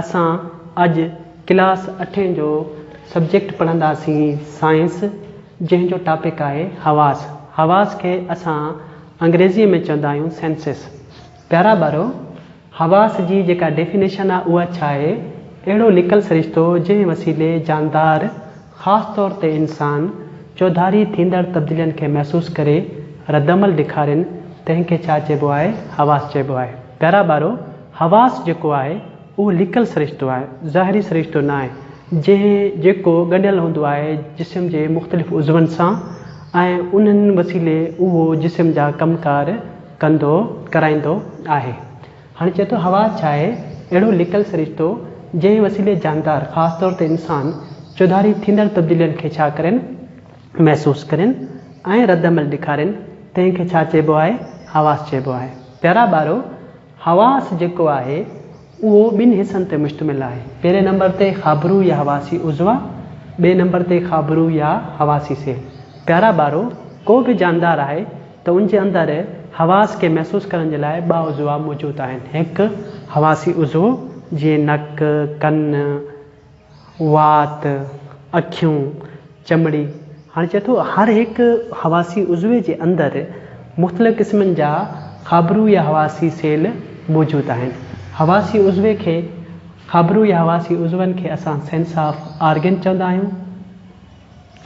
اسان اڄ ڪلاس اٺين جو سبجيڪٽ پڙهنداسين سائنس جنهن جو ٽاپڪ آهي حواس. حواس کي اسان انگريزيء ۾ چوندا آهيون Senses. پيارا ٻارو حواس جي جيڪا ڊيفينيشن آهي اها ڇا آهي؟ اهڙو لڪل سرشتو جنهن وسيلي جاندار خاص طور تي انسان چوڌاري ٿيندڙ تبديلين کي محسوس ڪري ردعمل ڏيکارين تنهن کي ڇا چئبو آهي حواس چئبو آهي پيارا ٻارو حواس جيڪو آهي اهو لڪل سرشتو آهي ظاهري سرشتو ناهي جنهن جيڪو ڳنڍيل هوندو آهي جسم جي مختلف عضون سان ۽ انهن وسيلي اهو جسم جا ڪم ڪار ڪندو ڪرائيندو آهي هن چيو ته حواس ڇا آهي؟ اهڙو لڪل سرشتو جنهن وسيلي جاندار خاص طور تي انسان چوڌاري ٿيندڙ تبديلين کي ڇا ڪرين، محسوس ڪرين ۽ رد عمل ڏيکارين تنهن کي ڇا چئبو آهي؟ حواس چئبو آهي. پيارا ٻارو! حواس جيڪو آهي اهو ٻن حصن تي مشتمل آهي. پهرين نمبر تي خابرو يا حواسي عضوا، ٻئي نمبر تي خابرو يا حواسي سيل. پيارا ٻارو! ڪو به جاندار آهي ته ان جي اندر حواس کي محسوس ڪرڻ جي لاء ٻه عضوا موجود آهن. هڪ حواسي عضو جيئن نڪ، ڪن، وات، اکيون، چمڙي. هاڻي چئي ٿو هر هڪ حواسي عضوي جي اندر مختلف قسمن جا خابرو يا حواسي سيل موجود آهن. حواسي عضوي کي خابرو يا حواسي عضون کي اسان سينس آف آرگن چوندا آهيون.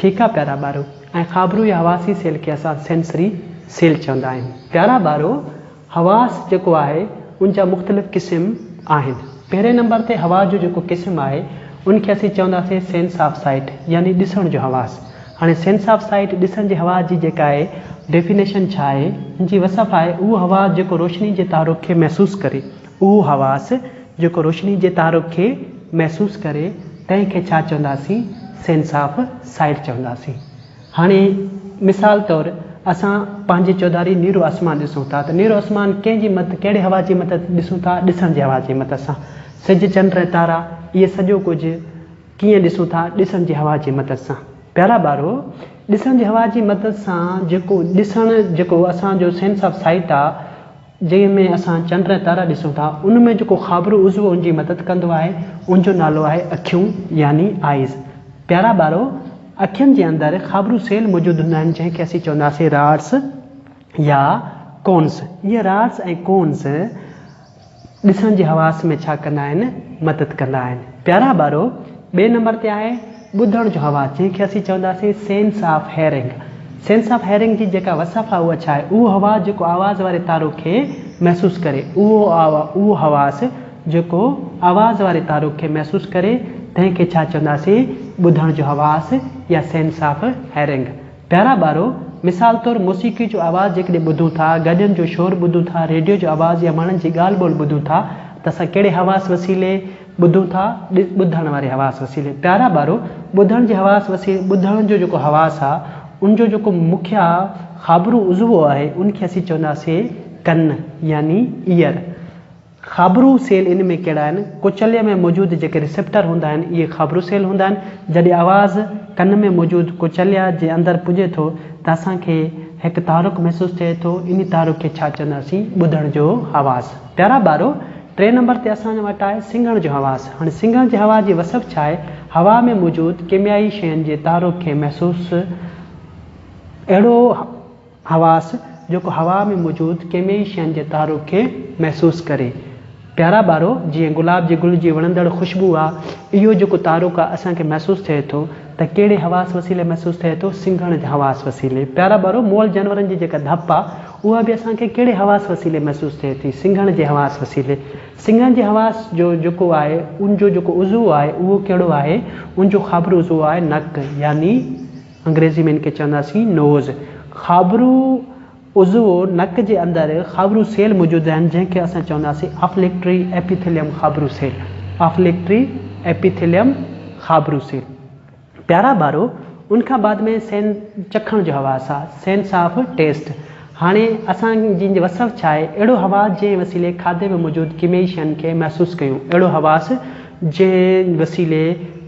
ٺيڪ آ پيارا ٻارو ۽ خابرو يا حواسي سيل کي اسان سينسري سيل چوندا آهيون. پيارا ٻارو حواس جيڪو آهي ان جا مختلف قسم آهن پهرين نمبر تي حواس جو جيڪو قسم آهي ان کي اسين چونداسين سينس آف سائيٽ يعني ڏسڻ جو حواس هاڻي سينس آف سائيٽ ڏسڻ جي حواس جي جيڪا آهي ڊيفينيشن ڇا آهي ان جي وصف آهي اهو حواس جيڪو روشني جي تحرڪ کي محسوس ڪري اهو حواس جيڪو روشني جي تحرڪ کي محسوس ڪري تنهن کي ڇا چونداسين سينس آف سائيٽ چونداسين. هاڻي مثال طور اسان پنهنجي چوڌاري نيرو آسمان ڏسون ٿا ته نيرو آسمان ڪنهن جي مدد ڪهڙي حواس جي مدد ڏسون ٿا ڏسڻ جي حواس جي مدد سان سج چنڊ ۽ تارا اهي سڄو ڪجهه ڪيئن ڏسون ٿا ڏسڻ جي حواس جي مدد سان پيارا ٻارو ڏسڻ جي حواس جي مدد سان جيڪو ڏسڻ جيڪو اسان جو سينس آف سائيٽ آ جنهن ۾ اسان چنڊ ۽ تارا ڏسون ٿا، ان ۾ جيڪو خابرو عضو ان جي مدد ڪندو آهي، ان جو نالو آهي اکيون يعني Eyes. پيارا ٻارو! اکين جي اندر خابرو سيل موجود هوندا آهن، جنهن کي اسين چونداسين Rods يا Cones. اهي Rods ۽ Cones ڏسڻ جي حواس ۾ ڇا ڪندا آهن؟ مدد ڪندا آهن. پيارا ٻارو! ٻئي نمبر تي آهي. ٻڌڻ جو حواس، جنهن کي اسين چونداسين Sense of Hearing. Sense of Hearing جي جيڪا وصف آهي اها ڇا آهي؟ اهو حواس جيڪو آواز واري تارو کي محسوس ڪري. اهو اهو حواس جيڪو آواز واري تارو کي محسوس ڪري تنهن کي ڇا چونداسين؟ ٻڌڻ جو حواس يا Sense of Hearing. پيارا ٻارو! مثال طور موسيقي جو آواز جيڪڏهن ٻڌون ٿا، گاڏين جو شور ٻڌون ٿا، ريڊيو جو آواز يا ماڻهن جي ڳالهه ٻولهه ٻڌون ٿا ته اسان ڪهڙي حواس وسيلي ٻڌون ٿا، ڏس، ٻڌڻ واري حواس وسيلي. پيارا ٻارو! ٻڌڻ جي حواس وسيلي، ٻڌڻ جو جيڪو حواس آ، ان جو جيڪو مکيه خابرو عضوو آهي، ان کي اسين چونداسين ڪن يعني Ear. خابرو سيل ان ۾ ڪهڙا آهن؟ ڪوچليء ۾ موجود جيڪي ريسيپٽر هوندا آهن، اهي خابرو سيل هوندا آهن. جڏهن آواز ڪن ۾ موجود ڪوچليا جي اندر پڄي ٿو ته اسان کي هڪ تحرڪ محسوس ٿئي ٿو، انهي تحرڪ کي ڇا چونداسين؟ ٻڌڻ جو حواس. پيارا ٻارو! ٽئين نمبر تي اسان وٽ آهي سنگهڻ جو حواس. هاڻي سنگهڻ جي حواس جي وصف ڇا آهي؟ هوا ۾ موجود ڪيميائي شين جي تحرڪ کي محسوس اهڙو حواس جيڪو هوا ۾ موجود ڪيميائي شين جي تحرڪ کي محسوس ڪري. پيارا ٻارو جيئن گلاب جي گل جي وڻندڙ خوشبو آ اهو جيڪو تحرڪ آ اسان کي محسوس ٿئي ٿو ته ڪهڙي حواس وسيلي محسوس ٿئي ٿو سنگهڻ جي حواس وسيلي. پيارا ٻارو مئل جانورن جي جيڪا ڌپ آ. اها به اسان کي ڪهڙي حواس وسيلي محسوس ٿئي ٿي؟ سنگهڻ جي حواس وسيلي. سنگهڻ جي حواس جو جيڪو آهي ان جو جيڪو عضو آهي اهو ڪهڙو آهي؟ ان جو خابرو عضو آهي نڪ يعني انگريزي ۾ ان کي چونداسين Nose. خابرو عضو نڪ جي اندر خابرو سيل موجود آهن جنهن کي اسان چونداسين Olfactory Epithelium خابرو سيل Olfactory Epithelium خابرو سيل. پيارا ٻارو، ان کان بعد ۾ سين چکڻ جو حواس آ، Sense of Taste. هاڻي اسان جن جي وس ۾ آهي اهڙو حواس جنهن وسيلي کاڌي ۾ موجود ڪيميائي شين کي محسوس ڪيون، اهڙو حواس جنهن وسيلي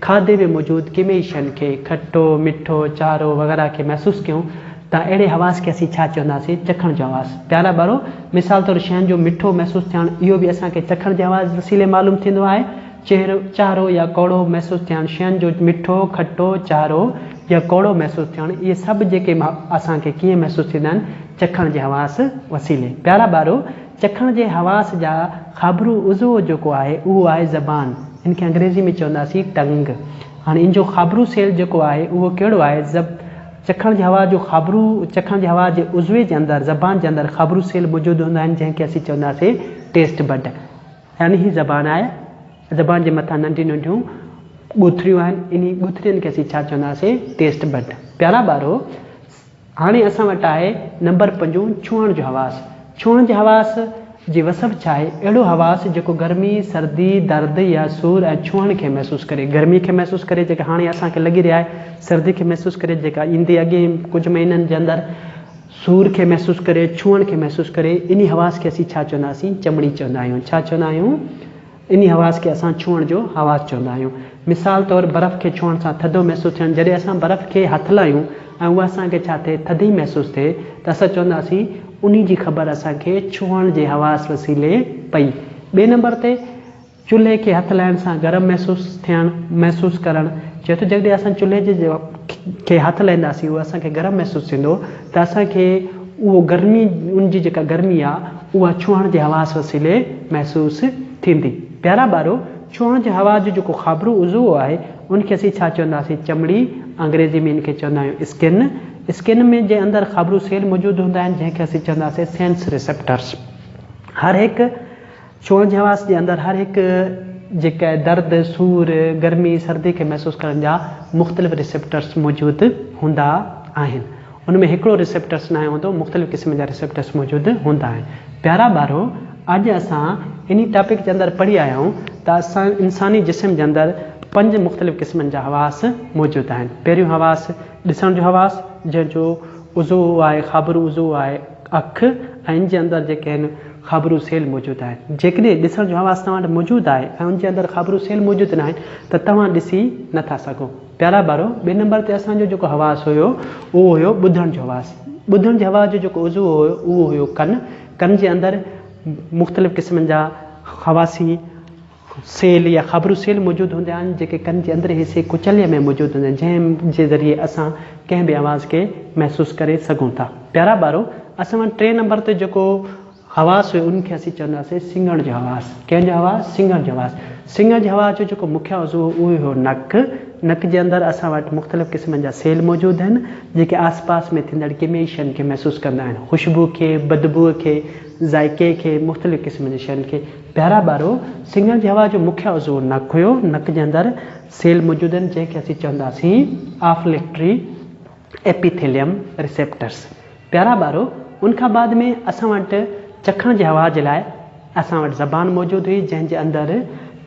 کاڌي ۾ موجود ڪيميائي شين کي، کٽو، مٺو، چارو وغيره کي محسوس ڪيون ته اهڙي حواس کي اسين ڇا چونداسين؟ چکڻ جو حواس. پيارا ٻارو، مثال طور شين جو مٺو محسوس ٿيڻ اهو به اسان کي چکڻ جي حواس وسيلي معلوم ٿيندو آهي. چهرو، چارو يا ڪوڙو محسوس ٿيڻ، شين جو مٺو، کٽو، چارو يا ڪوڙو محسوس ٿيڻ، اهي سڀ جيڪي اسان کي ڪيئن محسوس ٿيندا آهن، چکڻ جي حواس وسيلي. پيارا ٻارو! چکڻ جي حواس جا خابرو عضو جيڪو آهي، اهو آهي زبان. ان کي انگريزي ۾ چونداسين ٽنگ. هاڻي ان جو خابرو سيل جيڪو آهي، اهو ڪهڙو آهي؟ زب، چکڻ جي حواس جو خابرو، چکڻ جي حواس جي عضوي جي اندر، زبان جي اندر خابرو سيل موجود هوندا آهن، جنهن کي اسين چونداسين ٽيسٽ بڊ. يعني هي زبان آهي، زبان جي مٿان ننڍيون ننڍيون ڳوٿريون آهن، انهي ڳوٿرين کي اسين ڇا چونداسين، Taste Bud. پيارا ٻارو! هاڻي اسان وٽ آهي نمبر پنجون ڇهڻ جو حواس. ڇهڻ جي حواس جي وصف ڇا آهي؟ اهڙو حواس جيڪو گرمي، سردي، درد يا سور ۽ ڇهڻ کي محسوس ڪري. گرمي کي محسوس ڪري جيڪا هاڻي اسان کي لڳي رهي آهي، سردي کي محسوس ڪري جيڪا ايندي اڳين ڪجهه مهينن جي اندر، سور کي محسوس ڪري، ڇهڻ کي محسوس ڪري، انهي حواس کي اسين ڇا چوندا سين؟ چمڙي چوندا آهيون. ڇا چوندا آهيون؟ انهي حواس کي اسان ڇهڻ جو حواس چوندا آهيون. مثال طور برف کي ڇهڻ سان ٿڌو محسوس ٿيڻ جڏهن اسان برف کي هٿ لاهيون ۽ اها اسان کي ڇا ٿئي؟ ٿڌي محسوس ٿئي ته اسان چوندا سين انهي جي خبر اسان کي ڇهڻ جي حواس وسيلي پئي. ٻئي نمبر تي چلهي کي هٿ لائڻ سان گرم محسوس ٿيڻ محسوس ڪرڻ چئي ٿو جيڪڏهن اسان چلهي جي کي هٿ لائينداسين اهو اسان کي گرم محسوس ٿيندو ته اسان کي اهو گرمي ان جي جيڪا گرمي آ اها ڇهڻ جي حواس وسيلي محسوس ٿيندي پيارا ٻارو ڇهڻ جي حواس جو جيڪو خابرو عضو آهي ان کي اسين ڇا چونداسين چمڙي انگريزي ۾ ان کي چوندا آهيون اسڪن اسڪن ۾ جي اندر خابرو سيل موجود هوندا آهن جنهن کي اسين چونداسين سينس ريسيپٽرس هر هڪ ڇونه جي حواس جي اندر هر هڪ جي ڪئ درد، سور، گرمي، سردي کي محسوس ڪرڻ جا مختلف ريسيپٽرس موجود هوندا آهن. ان ۾ هڪڙو ريسيپٽرس ناهي هوندو، مختلف قسم جا ريسيپٽرس موجود هوندا آهن. پيارا ٻارو! اڄ اسان انهي ٽاپڪ جي اندر پڙهي آيا آهيون ته انساني جسم جي اندر پنج مختلف قسمن جا حواس موجود آهن. پهريون حواس ڏسڻ جو حواس جنهن جو عضو آهي خابرو عضو آهي. اک ۽ ان جي اندر جيڪي آهن خابرو سيل موجود آهن جيڪڏهن ڏسڻ جو حواس توهان وٽ موجود آهي ۽ ان جي اندر خابرو سيل موجود ناهن ته توهان ڏسي نٿا سگهو پيارا ٻارو ٻئي نمبر تي اسان جو جيڪو حواس هيو اهو هيو ٻڌڻ جو حواس ٻڌڻ جي حواس جو جيڪو عضو هيو اهو هيو ڪن ڪن جي اندر مختلف قسمن جا حواسي سيل يا خابرو سيل موجود هوندا آهن جيڪي ڪن جي اندرين حصي ڪچليء ۾ موجود هوندا آهن جنهن جي ذريعي اسان ڪنهن به آواز کي محسوس ڪري سگهون ٿا. پيارا ٻارو اسان وٽ ٽئين نمبر تي جيڪو حواس هيو ان کي اسين چونداسين سنگهڻ جو حواس. ڪنهن جو حواس؟ سنگهڻ جو حواس. سنگهڻ جي حواس جو جيڪو مکيه عضو هو اهو هيو نڪ. نڪ جي اندر اسان وٽ مختلف قسمن جا سيل موجود آهن جيڪي آس پاس ۾ ٿيندڙ ڪيميائي شين کي محسوس ڪندا آهن خوشبو کي، بدبوء کي، ذائقي کي، مختلف قسمن جي شين کي. پيارا ٻارو، سڱڻ جي هوا جو مکيه عضو نڪ هيو. نڪ جي اندر سيل موجود آهن، جنهن کي اسين چونداسين آفليڪٽري ايپيٿيليم ريسيپٽرس. پيارا ٻارو، ان کان بعد ۾ اسان وٽ چکڻ جي هوا جي لاء اسان وٽ زبان موجود هئي، جنهن جي اندر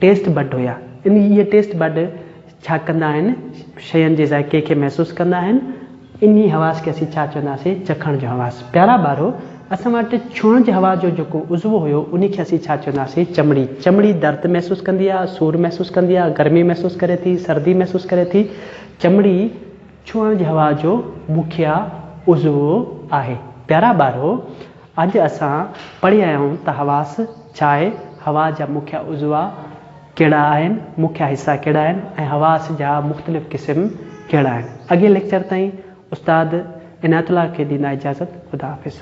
ٽيسٽ بڊ هيا. انهي اهي ٽيسٽ بڊ ڇا ڪندا آهن؟ شين جي ذائقي کي محسوس ڪندا آهن. انهي حواس کي اسين ڇا چونداسين؟ چکڻ جو حواس. پيارا ٻارو! اسان وٽ ڇهڻ جي حواس جو جيڪو عضوو هيو، انهي کي اسين ڇا چونداسين؟ چمڙي. چمڙي درد محسوس ڪندي آهي، سور محسوس ڪندي آهي، گرمي محسوس ڪري ٿي، سردي محسوس ڪري ٿي. چمڙي. ڇوڻ جهوا جو مکيه عضوو آهي. پيارا ٻارو! اڄ اسان پڙهي آيا آهيون ته حواس ڇا آهي، هوا جا مکيه عضوا ڪهڙا آهن، مکيه حصا ڪهڙا آهن ۽ حواس جا مختلف قسم ڪهڙا آهن. اڳئين ليڪچر تائين استاد عنايت الله کي ڏيندا اجازت. خدا حافظ.